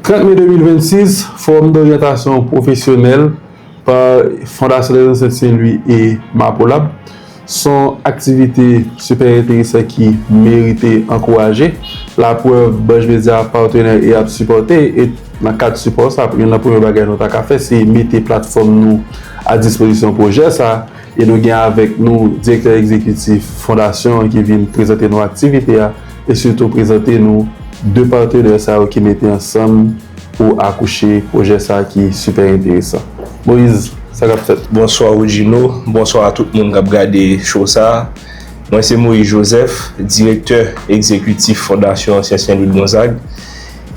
30 me 2026, Fowòm doryantasyon pwofesyonèl pa Fondasyon Lè Zansèt Sen Lwi e Mapolab son aktivite sipè enteresan ki merite ankouraje. Laprèv, Banj Medya ap patenè e ap sipòte e nan kad sipò sa, youn nan premye bagay nou ta ka fè se mete platfòm nou a dispozisyon pwojè sa. E nou gen avèk nou Direktè Egzekitif Fondasyon an ki vin prezante nou aktivite a e sitou prezante nou 2 patenè sa yo ki mete ansanm pou akouche pwojè sa ki sipè enteresan. Moise, sa k ap fèt? Bonswa Rodjino, bonswa a tout moun k ap gade show sa. Mwen se Moise Joseph, Direktè Egzekitif Fondasyon Ansyen Sen Lwi Gonzag.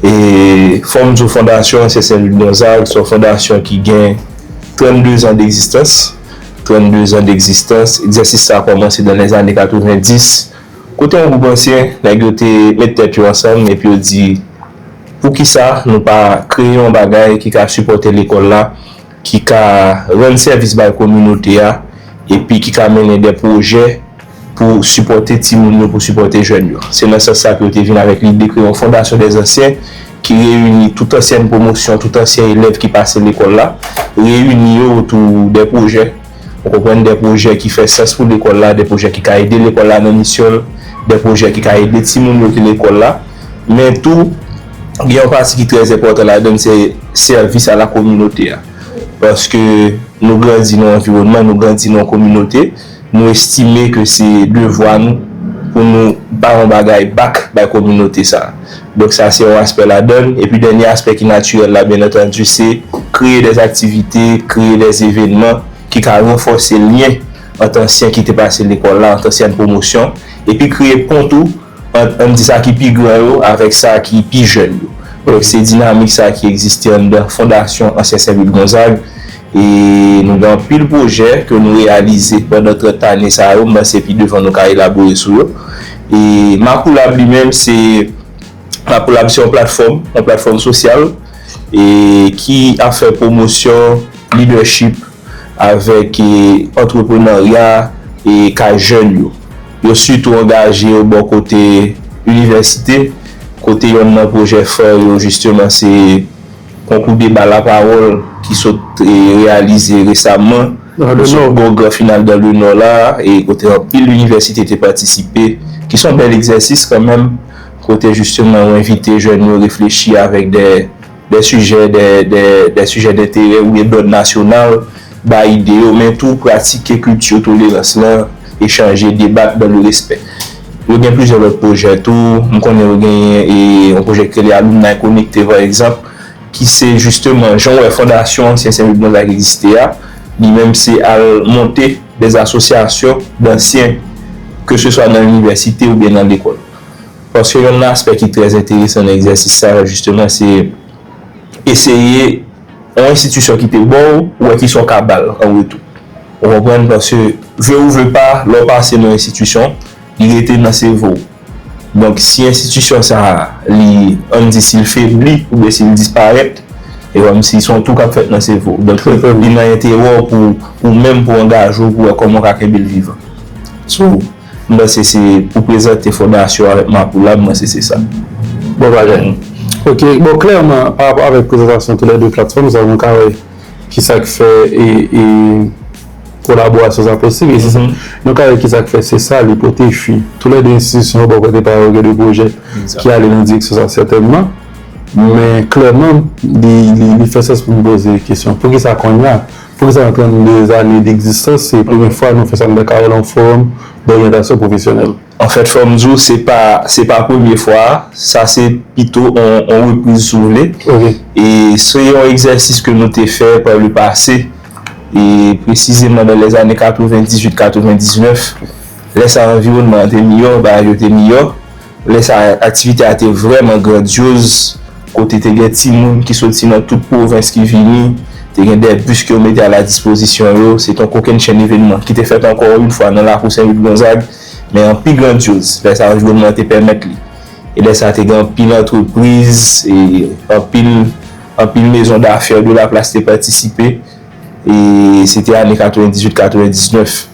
E fò m di w fondasyon an se Senlwik Gonzag, s on fondasyon ki gen 32 zan degzistans, 32 zan degzistans, egzèsis sa kòmanse dan lèzane 90, kote yon gwoup ansyen, nèg yo te met tèt yo ansanm epi yo di poukisa nou pa kreye yon bagay ki ka sipòte lekòl la, ki ka rann sèvis bay kominote a epi ki ka mennen dè pwojè. pou sipòte timoun yo, pou sipòte jèn yo. Se nan sans sa ke yo te vin avèk lide kreye yon Fondasyon dè Zansyen ki reyini tout ansyen pwomosyon, tout ansyen elèv ki pase lekòl la, reyini yo otou dè pwojè, ou konprann, dè pwojè ki fè sans pou lekòl la, dè pwojè ki ka ede lekòl la nan misyon l, dè pwojè ki ka ede timoun yo ki lekòl la. Men tou, gen yon pati ki trè enpòtan ladan l, se sèvis a la kominote a. Paske nou grandi nan yon anviwònman, nou grandi nan yon kominote. Nou estime ke se devwa nou pou nou bay yon bagay back bay kominote sa. Donk sa se yon aspè ladan l. Epi dènye aspè ki natirèl la byen antandi se kreye dè aktivite, kreye dè evenman ki ka ranfòse lyen ant ansyen ki te pase lekòl la, ant ansyen pwomosyon, epi kreye pon tou. ant, ann di sa ki pi gran yo avèk sa ki pi jèn yo. Brèf, se dinamik sa ki egziste anndan Fondasyon Ansyen Sen Louis Gonzague e nou gen anpil pwojè ke nou reyalize pandan 30 ane sa yo, m panse pi devan nou ka elabore sou yo. E Macoulab li menm se, Macoulab se yon platfòm, yon platfòm sosyal e ki ap fè pwomosyon lidèchip avèk antreprenarya e ka jèn yo. Yo sitou angaje yo bò kote inivèsite, kote yonn nan pwojè fè yo jisteman se konkou deba lapawòl ki sot reyalize resamman oswa bò gran final dans le Nord la e kote anpil inivèsite te patisipe, ki son bèl egzèsis kanmenm, kote jisteman ou envite jèn yo reflechi avèk dè. Dè sijè dè dè dè sijè denterè oubyen dòd nasyonal, bay ide yo, men tou pratike kilti tolerans lan, echanje, debat dan le respè. Yo gen plizyè lòt pwojè tou, m konnen yo genyen e yon pwojè ki rele Alumni Connecte pa egzanp, ki se jisteman jan w wè fondasyon ansyen Sen Louis Gonzague egziste a, li menm se al monte dè asosyasyon dansyen ke se swa nan inivèsite oubyen nan lekòl. Paske youn nan aspè ki trè enteresan nan egzèsis sa yo jisteman se eseye yon enstitisyon ki te ba w, ou wè ki sa w ka ba l an retou. Ou konprann? Paske vle ou vle pa, lè w pase nan yon enstitisyon, li rete nan sevo w. Donk, si enstitisyon sa a, li, an n di si l febli oubyen si l disparèt, e kòmsi se yon tou k ap fèt nan sevo w. Donk, li nan enterè w pou ou menm pou angaje w pou wè kòman w ka kenbe l vivan. So. M panse se pou prezante fondasyon avèk Makoula, m panse se sa. Bon bagay nou. Ok, bon klèman pa rapò avèk prezantasyon tou lè 2 platfòm sa yo nou ka wè ki sa k fè e kolaborasyon sa posib e se sa nou ka wè ki sa k fè se sa li pote fwi. Tou lè 2 enstitisyon yo bò kote pa yo gen 2 pwojè ki ale nan direksyon sa sètènman men klèman li fè sans pou m poze kesyon poukisa konnya Prezan an 32 ane degzistans, se premye fwa nou fè sa nou ta ka rele yon fowòm doryantasyon pwofesyonèl. Anfèt, fò m di w, se pa se pa premye fwa a, sa se pito yon repriz si w vle. E se yon egzèsis ke nou te fè pa le pase, e presizeman nan lèzane 98, 99. Lè sa a anviwonnman an te miyò, bagay yo te miyò. Lè sa a, aktivite a te vrèman grandyoz, kote te gen timoun ki soti nan tout pwovens ki vini, te gen 2 bis ke yo mete a la dispozisyon yo, se te yon kokennchenn evenman ki te fèt ankò yon fwa nan lakou Sen Louis Gonzague, men an pi grandyoz, lè sa anviwònman an te pèmèt li. E lè sa te gen anpil antrepriz, e anpil, anpil mezon dafè de la plas te patisipe, e se te ane 98, 99.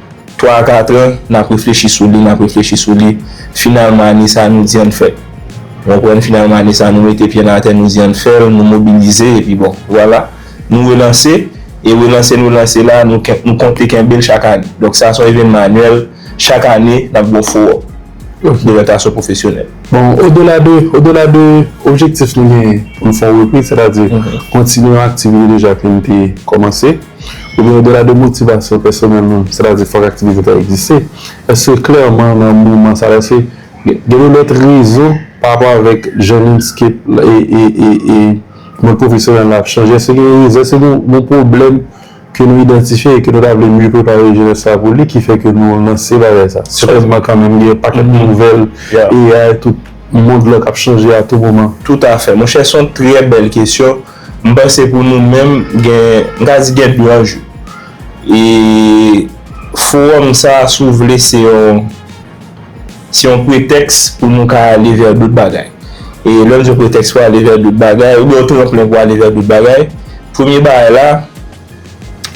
3 a 4 an, n ap reflechi sou li, n ap reflechi sou li, finalman ane sa a nou di ann fè l. Ou konprann? Finalman ane sa a nou mete pye n atè, nou di ann fè l, nou mobilize epi bon, vwala, nou relanse e relanse nou lanse la, nou konte kenbe l chak ane. Donk sa se yon evènman anyèl, chak ane n ap gen yon fowòm de lòryantayson pwofesyonèl. Bon, odela de, odela de objektif nou genyen pou n fè yon repriz, sètadi kontinye yon aktivite deja ke n te kòmanse, Oubyen odela de motivasyon pèsonèlman, sètadi fòk aktivite ta egziste, èske klèman nan moman sa la èske gen yon lòt rezon parapò avèk jan landscape e mond pwofesyonèl la ap chanje, èske gen yon rezon, èske gen yon pwoblèm ke nou idantifye e ke nou ta vle mye prepare jenès la pou li ki fè ke nou lanse bagay sa? Sètènman kanmenm gen yon pakèt nouvèl AI tout mond lan k ap chanje a tou moman. Toutafè monchè, s on trè bèl kesyon. M panse pou nou menm gen, m ka di gen 2 anjou. E fowòm sa a si w vle se yon, se yon pretèks pou nou ka ale vè dot bagay. E lè m di yon pretèks pou ale vè dot bagay, oubyen yon tranplen pou ale vè dot bagay, premye bagay la,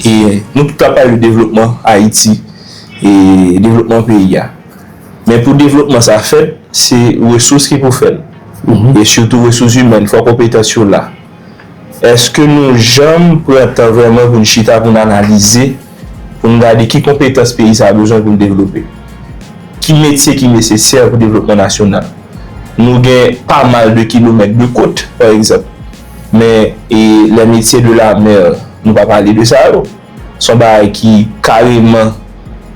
e nou tout ap pale de devlopman Ayiti, e devlopman peyi a. Men pou devlopman sa fèt, se resous ki pou fè l. E sitou resous imèn, fò konpetans yo la. Eske nou janm pran tan vrèman pou n chita, pou n analize, pou n gade ki konpetans peyi sa a bezwen pou l devlope? Ki metye ki nesesè pou devlopman nasyonal? Nou gen pa mal de kilomèt de kot, pa egzanp. Men, e les métiers de la mer? Nou pa pale de sa yo. Se yon bagay ki kareman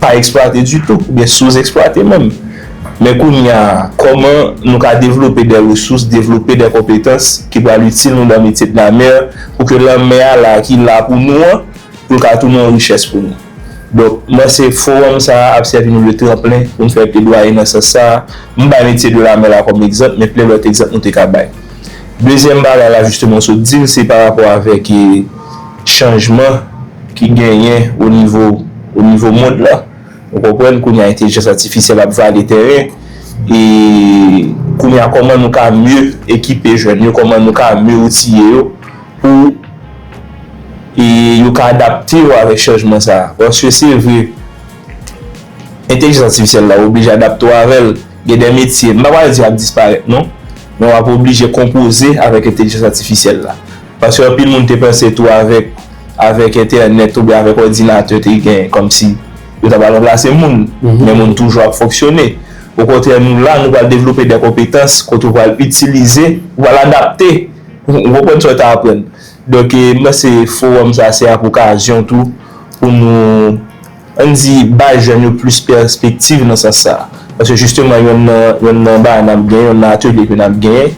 pa eksplwate ditou oubyen souzèksplwate menm. Men kounye a, kòman nou ka devlope dè resous, devlope dè konpetans ki pral itil nou nan metye de la mer pou ke lanmè a la ki la pou nou an, pou l ka tounen yon richès pou nou. Donk, m panse fowòm sa a ap sèvi nou de tranplen pou n fè pledwaye nan sans sa a. M bay metye de la mer la kòm egzanp, men plen lòt egzanp nou te ka bay. Dezyèm bagay la jisteman w sot di l, se parapò avèk e. chanjman ki genyen o nivo o nivo mond lan ou konprann kounye a entelijans atifisyèl ap vale tèren e kounye a kòman nou ka mye ekipe jèn yo kòman nou ka mye outiye yo pou e yo ka adapte yo avèk chanjman sa a paske se vre entelijans atifisyèl la ou oblije adapte ou avè l gen de metye m pa pral di y ap disparèt non men w ap oblije konpoze avèk entelijans atifisyèl la. Paske anpil moun te panse tou avèk avèk entènèt oubyen avèk òdinatè te gen kòmsi yo ta pral ranplase moun, men moun toujou ap fonksyone. Okontrè nou la, nou pral devlope dè konpetans kote ou pral itilize, ou pral adapte, ou konprann sa w ta aprann. Donk m panse fowòm sa se ap okazyon tou pou nou, ann di, bay jèn yo plis pèspektiv nan sans sa. Paske jisteman yonn nan yonn nan bagay n ap gen, yonn nan atelye ke n ap gen,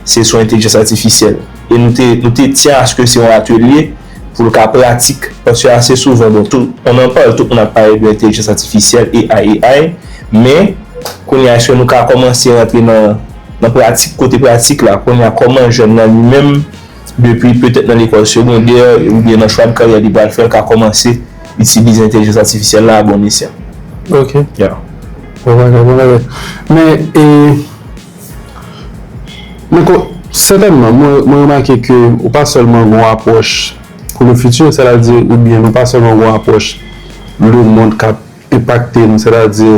se sou entelijans atifisyèl e nou te nou te tyen aske se yon atelye pou l ka pratik paske ase souvan bon tou on nan pale tout moun ap pale de entelijans atifisyèl AI AI men kounye a eske nou ka kòmanse rantre nan nan pratik kote pratik la kounye a kòman jèn nan li menm depi petèt nan lekòl segondè oubyen nan chwa de karyè li pral fè l ka kòmanse itilize entelijans atifisyèl la a bon esyan. Ok. Ya. Bon bagay, bon bagay. Men e. Mwen kwè, sètènman, mwen remake ke ou pa sèlman gen yon apwòch pou le fiti, sètadi oubyen nou pa sèlman gen yon apwòch le mond k ap enpakte nou, sètadi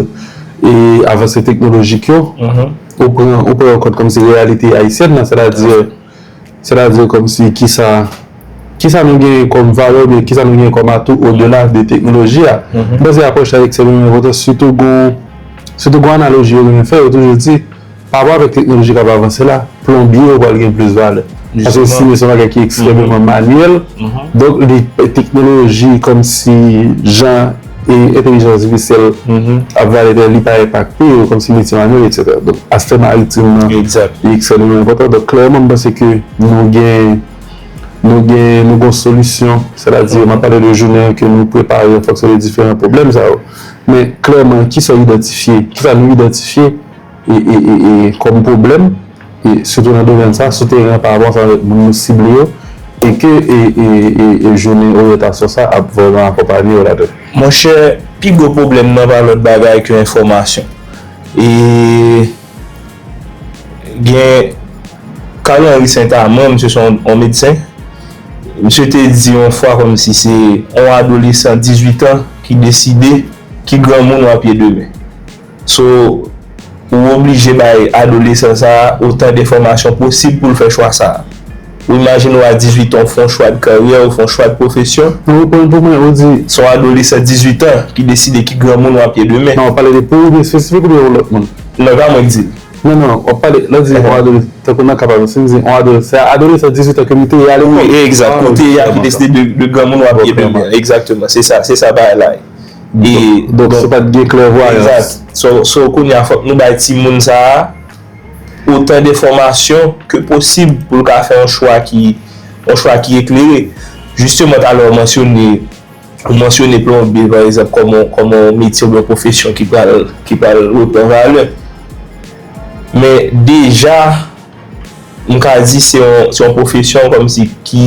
e avanse teknolojik yo, ou pran, ou pran yo kòd kòm si reyalite ayisyèn nan, sètadi. Sètadi kòmsi kisa kisa nou genyen kòm valè oubyen kisa nou genyen kòm atou odela de teknoloji a. M panse apwòch sa ekstrèmman enpòtan sitou gon sitou gon analoji yo renmen fè yo toujou di parapò avèk teknoloji k ap avanse la plonbye yo pral gen plis valè paske simen se yon bagay ki ekstrèmeman manyèl donk li teknoloji kòmsi jan E entelijans atifisyèl ap vale tè, li pa enpakte yo kòmsi metye manyèl eksetera. Donk aspè maritim nan li ekstrèmeman enpòtan. Donk klèman m panse ke nou gen, nou gen, nou gen yon solisyon. Sètadi m ap pale de jounen an ke nou prepare an fonksyon de diferan pwoblèm sa yo. Men klèman kisa w idantifye, kisa nou idantifye? kòm pwoblèm, sitou nan domèn sa, sou teren an parapò sa avèk moun nou sible yo, e ke jounen oryantasyon sa ap vrèman akonpanye yo ladan l. Monchè, pi gwo pwoblèm nan pa lòt bagay ke enfòmasyon. E gen Carl Henry Saint-Amand, misye se yon medsen, misye te di yon fwa kòm si se yon adolesan 18 an ki deside ki granmoun w ap ye demen. So, ou oblije bay adolesan sa a otan denfòmasyon posib pou l fè chwa sa a. Ou imajine ou a 18 an ou fè yon chwa de karyè, ou fè yon chwa de pwofesyon. Nan reponn pou mwen, ou di. Se yon adolesan 18 an ki deside ki granmoun w ap ye demen. Nan w ap pale de pou ou menm espesifik oubyen yon lòt moun? Non, e pa mwen k di l. Non, non, w ap pale, lè w di yon adolesan, tankou nan ka pa m, si m di yon adolesan, se adolesan 18 an ke m te ye alekòl. Wi, egzat, ke w te ye a ki deside de granmoun w ap ye demen an. Egzakteman, se sa, se sa bagay la ye. Donk se pat gen klèvwayans. Exact. So kounye a fòk nou bay timoun sa a otan denfòmasyon ke posib pou l ka fè yon chwa ki yon chwa ki eklere. Jisteman talè ou mansyone ou mansyone plonbye pa egzanp kòm yon kòm yon metye oubyen yon pwofesyon ki pral ki pral repran valè. Men deja. m ka di se yon pwofesyon kòmsi ki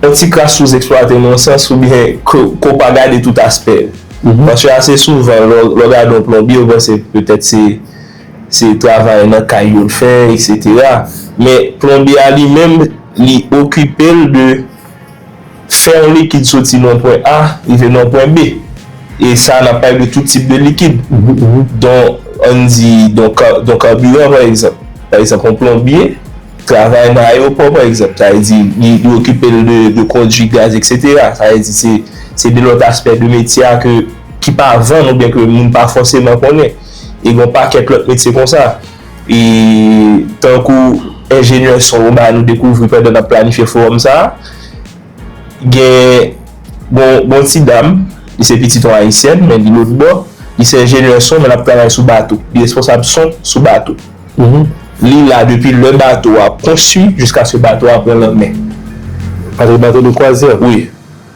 yon ti kras souzèksplwate nan yon sans oubyen ke w pa gade tout aspè l. Paske ase souvan lè w gade yon plonbye ou panse petèt se travay nan kay yo l fè eksetera men plonbye a li menm li okipe l de Fè yon likid soti nan yon pwen A rive nan yon pwen B. E sa a n ap pale de tout tip de likid. Don, an n di, don don kabiran pa egzanp. Pa egzanp, yon plonbye travay nan ayewopò pa egzanp. Sa vle di li li okipe l de de kondui gaz eksetera. Sa vle di se se de lòt aspè de metye a ke ki pa vann oubyen ke moun pa fòseman konnen. E gen yon pakèt lòt metye konsa. E tankou enjenyè son yo ba nou dekouvri pandan n ap planifye fowòm sa a, gen yon ti dam, li se pitit yon Ayisyèn men li lotbò, li se enjenyè son men l ap travay sou bato, li responsab son sou bato. Li la depi lè bato a konstwi jiskaske bato a pran lanmè. Bato de kwazyè? Wi.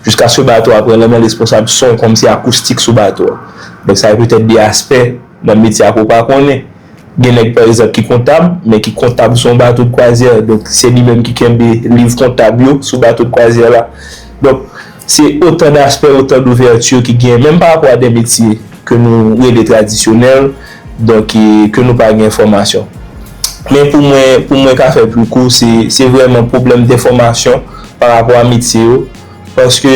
Jiskaske bato a pran lanmè lesponsab son kòm se akoustik sou bato a. Donk sa e petèt de aspè nan metye a ke w pa konnen. Gen nèg pa egzanp ki kontab, men ki kontab sou yon bato de kwazyè. Donk se li menm ki kenbe liv kontab yo sou bato de kwazyè la. Donk se otan daspè, otan douvèti ki gen menm pa rapò a de metye ke nou rele tradisyonèl. Donk e ke nou pa gen enfòmasyon. Men pou mwen, pou mwen ka fè pli kou, se, se vrèman pwoblèm denfòmasyon pa rapò a metye yo. Paske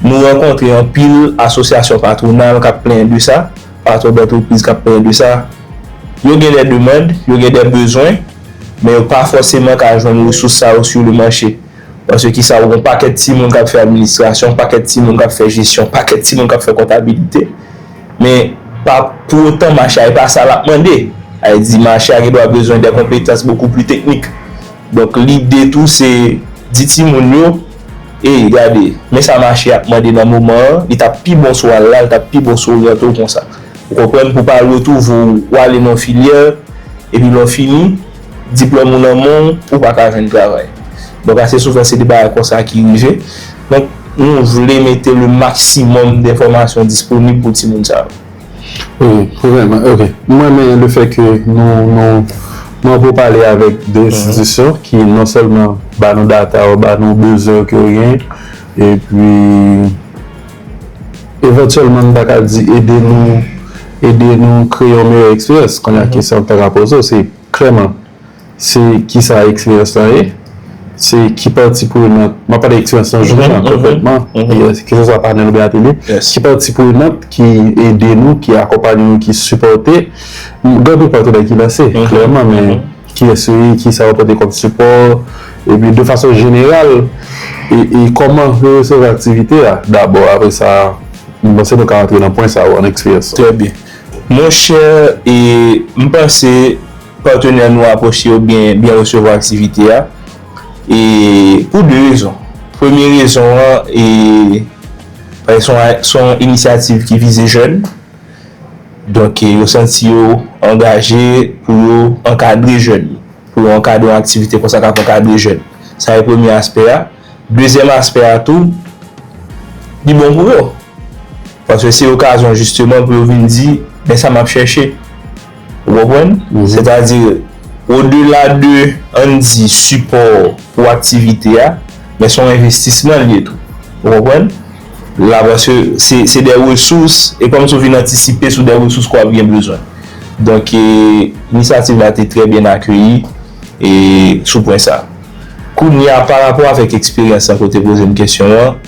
nou rankontre anpil asosyasyon patwonal k ap plenyen de sa, patwon dantrepriz k ap plenyen de sa. Yo gen dè demand, yo gen dè bezwen, men yo pa fòseman ka jwenn resous sa yo su le mache. Paske ki sa, ou gen yon pakèt timoun k ap fè administrasyon, pakèt timoun k ap fè jesyon, pakèt timoun k ap fè kontabilite. Men, pa pou otan mache a e pa sa lap mande. A e di mache a gen dwa bezwen dè konpetans bokou pli teknik. Donk lide tou se di timoun yo, ey gade, men sa mache a ap mande nan moman an, li tap pi bon si w al la, li tap pi bon si w oryante w konsa. Ou konprann? Pou pa lwe tou vo ou ale nan yon filyè, epi lè w fini. Diplòm ou nan men w, ou pa ka jwenn travay. Donk ase souvan se de bagay konsa ki rive. Donk nou vle mete le maksimòm denfòmasyon disponib pou timoun sa yo. Wi, vrèman. Ok. M renmen le fè ke nou, nou, nou anpe pale avèk de enstitisyon ki non sèlman ba nou data yo, ba nou bezwen yo ke yo genyen. Epi. Evantyèlman m ta ka di ede nou ede nou kreye yon meyè eksperyans. Kounye a kesyon m ta ka poze w se klèman se kisa eksperyans lan ye? Se ki pati prenant, m ap pale eksperyans nan jounen an konkrètman, keseswa panèl oubyen atelye, ki pati prenant ki ede nou, ki akonpanye nou, ki sipòte? Gade patnè ki la se klèman men. Kiyès ou ye, kisa ou pote kòm sipò, epi de fason jeneral e kòman yo resevwa aktivite a dabò, apre sa m panse nou ka antre nan pwen sa yo an eksperyans. Trè byen. Mon chè, e m panse patenè nou apwoche yo byen byen resevwa aktivite a e pou de rezon. Premye rezon an e paske se yon inisyativ ki vize jèn. Donk yo santi yo angaje pou yo ankadre jèn yo, pou yo ankadre yon aktivite konsa k ap ankadre jèn. Sa e premye aspè a. Dezyèm aspè a tou, li bon pou yo. Paske se okazyon jisteman pou yo vin di, men sa m ap chèche. Ou konprann? Sètadi, odela de an n di sipò pou aktivite a, men se yon envestisman li ye tou. Ou konprann? la paske se de resous e kòm se w vin antisipe sou de resous ke w ap gen bezwen donk inisyativ la te trè byen akeyi e sou pwen sa kounye a pa rapò avèk eksperyans sa ke w te poze m kesyon an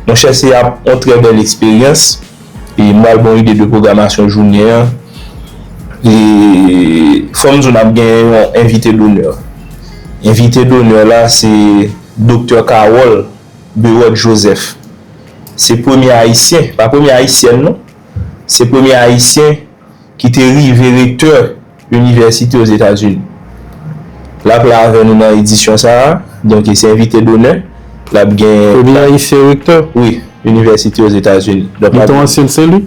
monchè se ap yon trè bèl eksperyans e m pral ba w ide de pwogramasyon jounen an e fò m di w n ap gen yon envite donè envite donè la se doktè Kawòl. Berod Joseph se premye Ayisyen, pa premye Ayisyèn non, se premye Ayisyen ki te rive rektè inivèsite Ozetazini. L ap la avè nou nan edisyon sa a, donk e se envite donè. L ap gen. Premye Ayisyen rektè? Wi, inivèsite Ozetazini. Li te ansyen se li?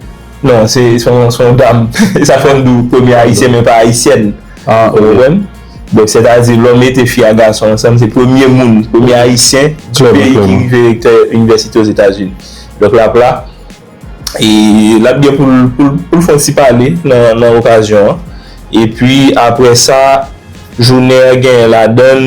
Non, se yon dam. E sa fè m di w premye Ayisyen men pa Ayisyèn. Ou konprann? Donk sètadi lò mete fi ak gason ansanm se premye moun, premye ayisyen tout peyi ki rive rektè inivèsite Ozetazini. Donk lap la e lap gen pou l fon ti pale nan okazyon an. Epi aprè sa jounen an genyen ladann.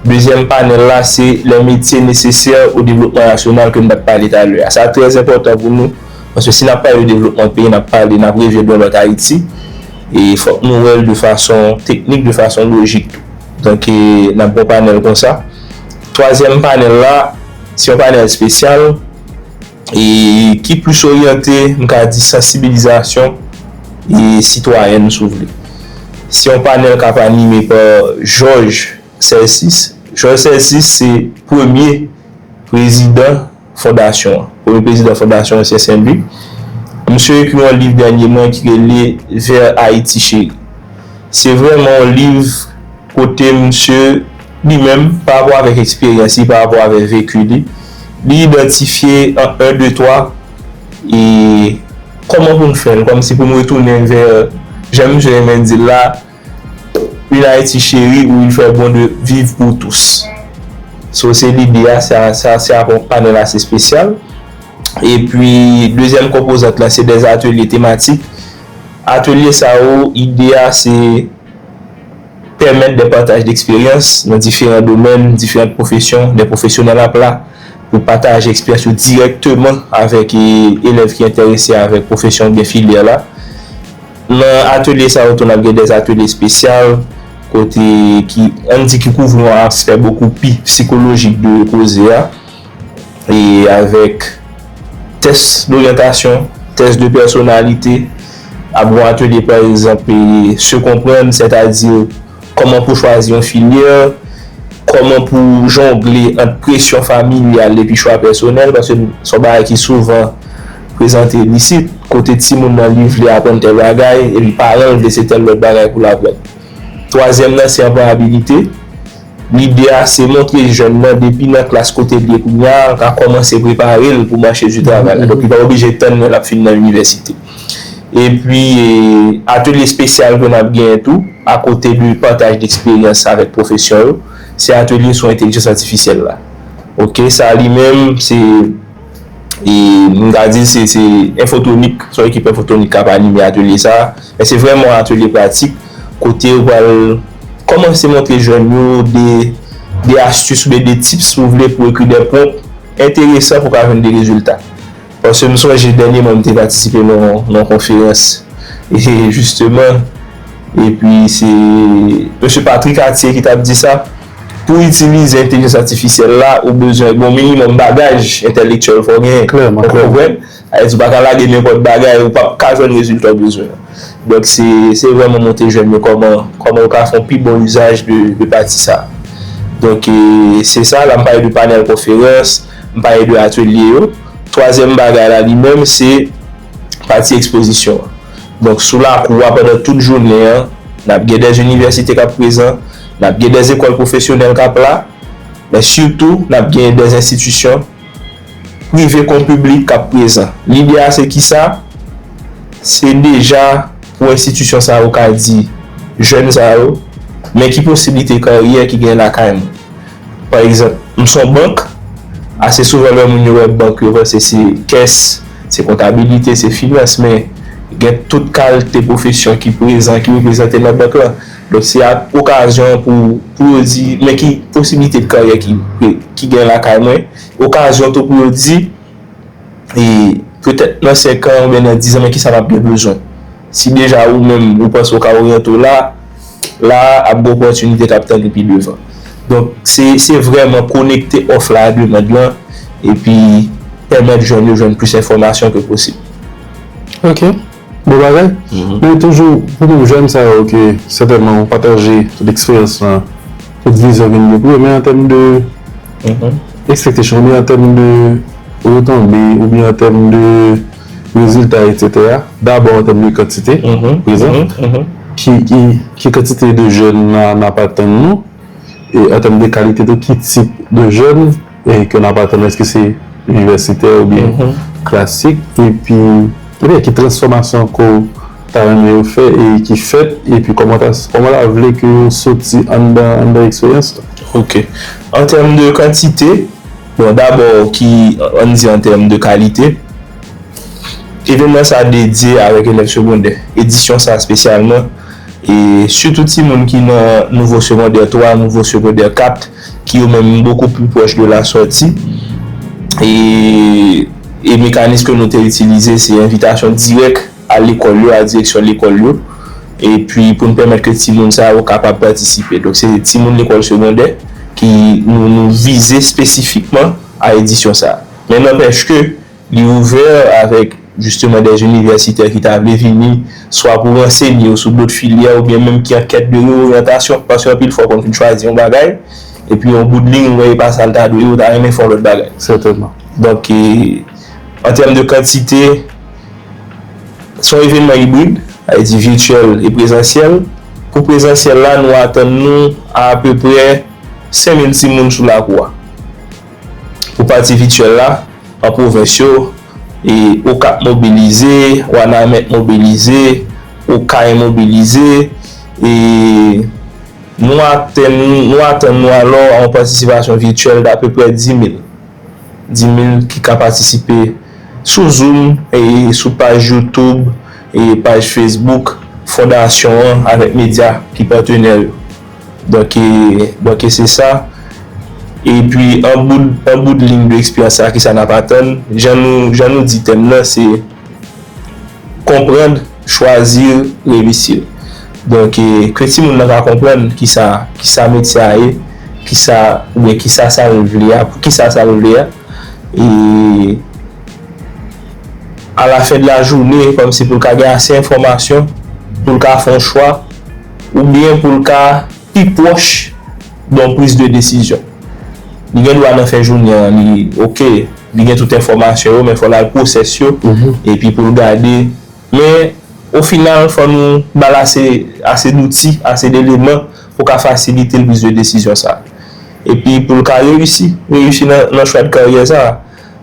Dezyèm panèl la se lè metye nesesè o devlopman nasyonal ke nou pat pale talè a. Sa trè enpòtan pou nou, paske si nap pale de devlopman peyi, nap pale, nap revye dwen lòt Ayiti, e fòk nou wèl de fason teknik, de fason lojik tou. Donk e nap gen yon panèl konsa. Twazyèm panèl la, se yon panèl espesyal. e ki plis oryante, m ka di sansibilizasyon e sitwayèn si w vle. Se yon panèl k ap anime pa Jòj Sèlsis. Jòj Sèlsis se premye prezidan fondasyon an. Premye prezidan fondasyon Ansyen Sen Lik. Misye ekri yon liv dènyeman ki rele Vers Haïti Chérie. Se vrèman yon liv. Kote misye, li menm, pa rapò avèk eksperyans li, pa rapò avè veku li, li idantifye an 1, 2, 3, e kòman pou n fè l, kòmsi pou n retounen vè jan misye renmen di l la, Une Haïti chérie où il fait bon de vivre pour tous. So se lide a, sa sa se ap yon panèl ase espesyal. Epi dezyèm konpozant la se dè atelye tematik. Atelye sa yo ide a se pèmèt de pataj deksperyans nan diferan domèn, diferant pwofesyon, de pwofesyonèl apla pou pataje eksperyans yo dirèkteman avèk elèv ki enterese avèk pwofesyon oubyen filyè la. Nan atelye sa yo tou n ap gen de atelye espesyal kote ki, an n di ki kouvri yon aspè bokou pi psikolojik de koze a. e avèk tès doryantasyon, tès de pèsonalite, ap gon atelye pa egzanp se konprann sètadi kòman pou chwazi yon filyè, kòman pou jongle ant presyon familyal epi chwa pèsonèl paske se yon bagay ki souvan prezante isit kote timoun nan li vle aprann tèl bagay epi paran l vle se tèl lòt bagay pou l aprann. Twazyèm nan se anployabilite. Lide a se montre jèn nan depi nan klas kote l ye kounye a, l ka kòmanse prepare l pou mache di travay la. Donk li pa oblije tann lè l ap fin nan inivèsite. Epi atelye espesyal ke n ap genyen tou, akote de pataj de eksperyans avèk pwofesyon yo, se atelye sou entelijans atifisyèl la. Ok, sa li menm se, m ta di se enfotonik, se yon ekip enfotonik k ap anime atelye sa a. Men se vrèman yon atelye pratik kote yo pral kòmanse montre jèn yo de de astis oubyen de tips si w vle pou ekri de pwonp enteresan pou w ka jwenn de rezilta. Paske m sonje dènyèman m te patisipe nan yon konferans e jisteman epi se Mesye Patri Katye ki t ap di sa, pou itilize entelijans atifisyèl la ou bezwen gen yon minimòm bagaj entèlektyèl fò w genyen. Klèman, klèman. Ayiti ou pa ka lage nenpòt bagay ou pap ka jwenn rezilta ou bezwen an. Donk se vrèman monte jèn yo kòman kòman yo ka fè yon pi bon izaj de pati sa. Donk se sa la m pale de panèl konferans, m pale de atelye yo. Twazyèm bagay la li menm se pati ekspozisyon an. Donk sou lakou a pandan tout jounen an n ap gen dè inivèsite k ap prezan, n ap gen dè ekòl pwofesyonèl k ap la men sitou n ap gen dè enstitisyon. prive kon piblik k ap prezan. Lide a se kisa? Se deja pou enstitisyon sa yo ka di jèn sa yo, men ki posiblite karyè ki gen lakay mwen. Pa egzanp, m s on bank, ase souvan lè moun yo wè bank yo panse se kès, se kontabilite, se finans, men gen tout kalte pwofesyon ki prezan, ki reprezante nan bank lan. Donk se ak okazyon an pou pou yo di men ki posibilite de karyè ki ki gen lakay mwen. Okazyon tou pou yo di e petèt nan 5 an oubyen nan 10 an men kisa m ap gen bezwen. Si deja ou menm ou panse ou ka oryante w la, la a ap gen opòtinite k ap tann ou pi devan. Donk se se vrèman konekte òf la a demand lan epi pèmèt jèn yo jwenn plis enfòmasyon ke posib. Ok. Bon bagay, men toujou pou moun jèn sa yo ke sètènman ou pataje tout eksperyans lan, tout vizyon ke nou gen pou yo men an tèm de expectation oubyen an tèm de retonbe oubyen an tèm de rezilta etsetera dabò an tèm de kantite prezan ki kantite de jèn nan ap atann nou e an tèm de kalite tou ki tip de jèn ke n ap atann èske se inivèsitè oubyen klasik epi oubyen ki transfòmasyon ke w ta renmen yo fè e ki fèt epi kòman w ta vle ke yo soti anndan eksperyans la. Ok. An tèm de kantite, bon dabò ki an n di an tèm de kalite, evènman sa dedye avèk elèv segondè, edisyon sa espesyalman e sitou timoun ki nan nouvo segondè 3, nouvo segondè 4. ki yo menm bokou pli pwòch de la sòti, e e mekanis ke nou te itilize se envitasyon dirèk a lekòl yo, a direksyon lekòl yo, e pi pou n pèmèt ke timoun sa yo kapab patisipe. Donk se timoun lekòl segondè ki nou vize spesifikman a edisyon sa. Men nanpèch ke. Li ouvè avèk jisteman dè inivèsitè ki ta vle vini swa pou ransenye yo sou dot filyè oubyen menm ki an kèt de reoryantasyon paske anpil fwa ou konn fin chwazi yon bagay epi yon bout liy ou wè e pa sa l ta dwe ye ou ta renmen fè yon lòt bagay. Sètènman. Donk, an tèm de kantite, se yon evènman ibrid, sa vle di vityèl e prezansyèl. Pou prezansyèl la nou atann nou a apeprè 5000 timoun sou lakou a. Pou pati vityèl la, an pwovens yo, e Okap mobilize, Wanament mobilize, Okay mobilize, e nou atenn nou atann nou alò a yon patisipasyon vityèl dapeprè 10,000. 10,000 ki ka patisipe sou zoum e sou paj youtoub e paj fesbouk fondasyon an avèk medya ki patenè yo. Donk e, donk e se sa. E pi an bout, an bout lign de eksperyans sa a ki sa n ap atann? Jan nou, jan nou di tèm nan se Comprendre, choisir, reussir. Donk e, ke timoun nan ka konprann ki sa, ki sa metye a ye, ki sa, oubyen ki sa sa l vle a, pou ki sa sa l vle a. E a la fen de la joune, kòm si pou l ka gen ase enfòmasyon pou l ka fè yon chwa. oubyen pou l ka pi pwòch don priz de desizyon. Li gen dwa nan fen jounen an li ok, li gen tout enfòmasyon yo men fò l al pwosès yo epi pou l gade men o final fò nou ba l ase ase douti, ase deleman pou ka fasilite l priz de desizyon sa a epi pou l ka reyisi reyisi nan chwa de karyè sa a.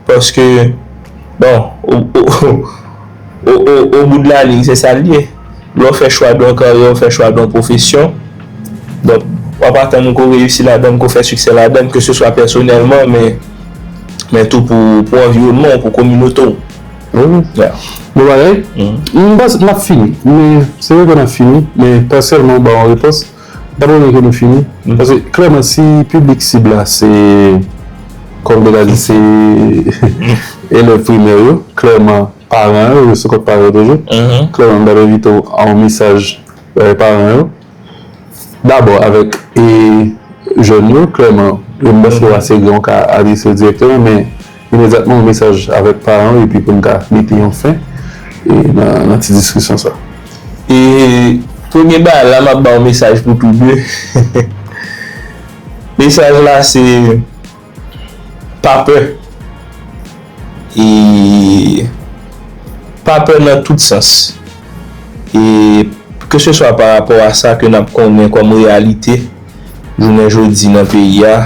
Paske bon o bout de la liy se sa l ye. Lè w fè chwa don karyè, w fè chwa don pwofesyon. Donk w ap atann ou ke w reyisi ladan l, ke w fè siksè ladan l, ke se swa pèsonèlman men tou pou anviwònman w, pou kominote w. Bon bagay. M panse n ap fini. Se vre ke n ap fini men pèsèlman w ba yon repons. Dapre mwen ke nou fini, paske klèman si piblik sib la se, kòm nou ta di se elèv primè yo, klèman paran yo, yo sou kont paran yo toujou, klèman m ta envite w a yon mesaj bay paran yo, dabò avèk jèn yo, klèman m pa sou ase gen yon ka adrese yo dirèkteman men. Imedyatman yon mesaj avèk paran yo epi pou n ka mete yon fen nan ti diskisyon sa. E premye bagay la m ap ba w mesaj pou tou de. Mesaj la se pa pè. E pa pè nan tout sans. E keseswa parapò a sa ke n ap konnen kòm reyalite jounen jodi nan peyi a.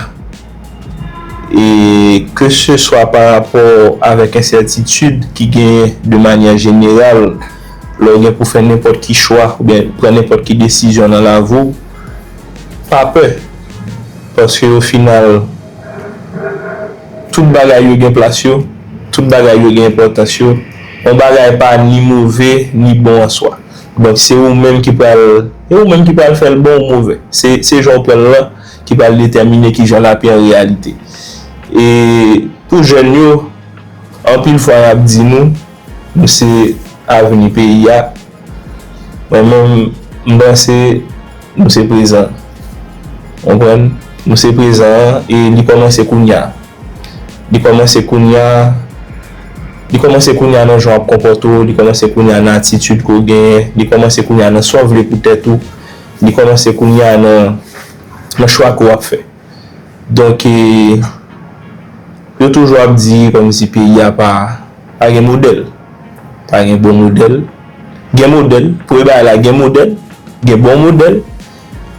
e keseswa pa rapò avèk ensètitid ki genyen de manyè jeneral lè w gen pou fè nenpòt ki chwa oubyen pran nenpòt ki desizyon nan lavi w, pa pè paske ofinal tout bagay yo gen plas yo, tout bagay yo gen enpòtans yo, yon bagay pa ni move ni bon an swa donk se ou menm ki pral fè l bon ou move se jan w pran l lan. ki pral detèmine ki jan l ap ye an reyalite. E pou jèn yo, anpil fwa y ap di nou, nou se avni peyi a, mwen menm m panse nou se prezan. Ou konprann? Nou se prezan an e li kòmanse kounya. Li kòmanse kounya, li kòmanse kounya nan jan w ap konpòte w, li kòmanse kounya nan atitid ke w genyen, li kòmanse kounya nan sa w vle pou tèt ou, Li kòmanse kounye a nan chwa ke w ap fè. Donk, yo toujou ap di kòmsi peyi a pa gen modèl. Pa gen bon modèl. Gen modèl. Premye bagay la, gen modèl. Gen bon modèl.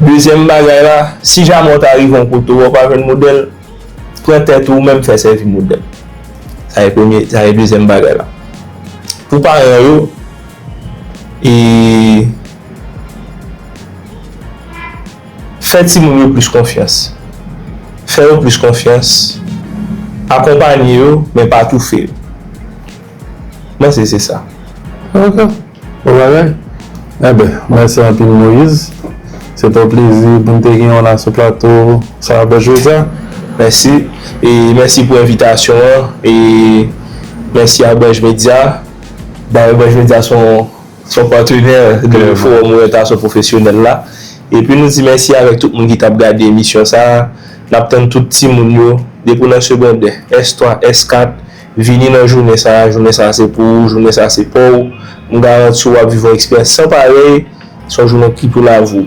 Dezyèm bagay la, si jamè w ta rive yon kote wè w pa jwenn modèl, pran tèt ou menm fè sèvi modèl. Sa se premye, sa se dezyèm bagay la. Pou paran yo, e. Fè timoun yo plis konfyans Fè yo plis konfyans Akonpanye yo, men pa toufe yo Mèsi se sa Ok Bon bagay Enben mèsi anpil Moïse Se te yon plezi pou n te genyen w la sou plato Sa Bòs jodi a. Mèsi E mèsi pou envitasyon an E mèsi a Bòs Media Dayè Bòs Media se yon. Fò patenè de fowòm oryantasyon pwofesyonèl la. Epi nou di mèsi avèk tout moun ki tap gade emisyon sa a. Nap tann tout timoun yo, depi w nan segondè, S3, S4, vini nan jounen sa a, jounen sa a se pou ou, jounen sa a se pa w. M garanti w wap viv yon eksperyans san parèy, se yon jounen ki pou lavi w.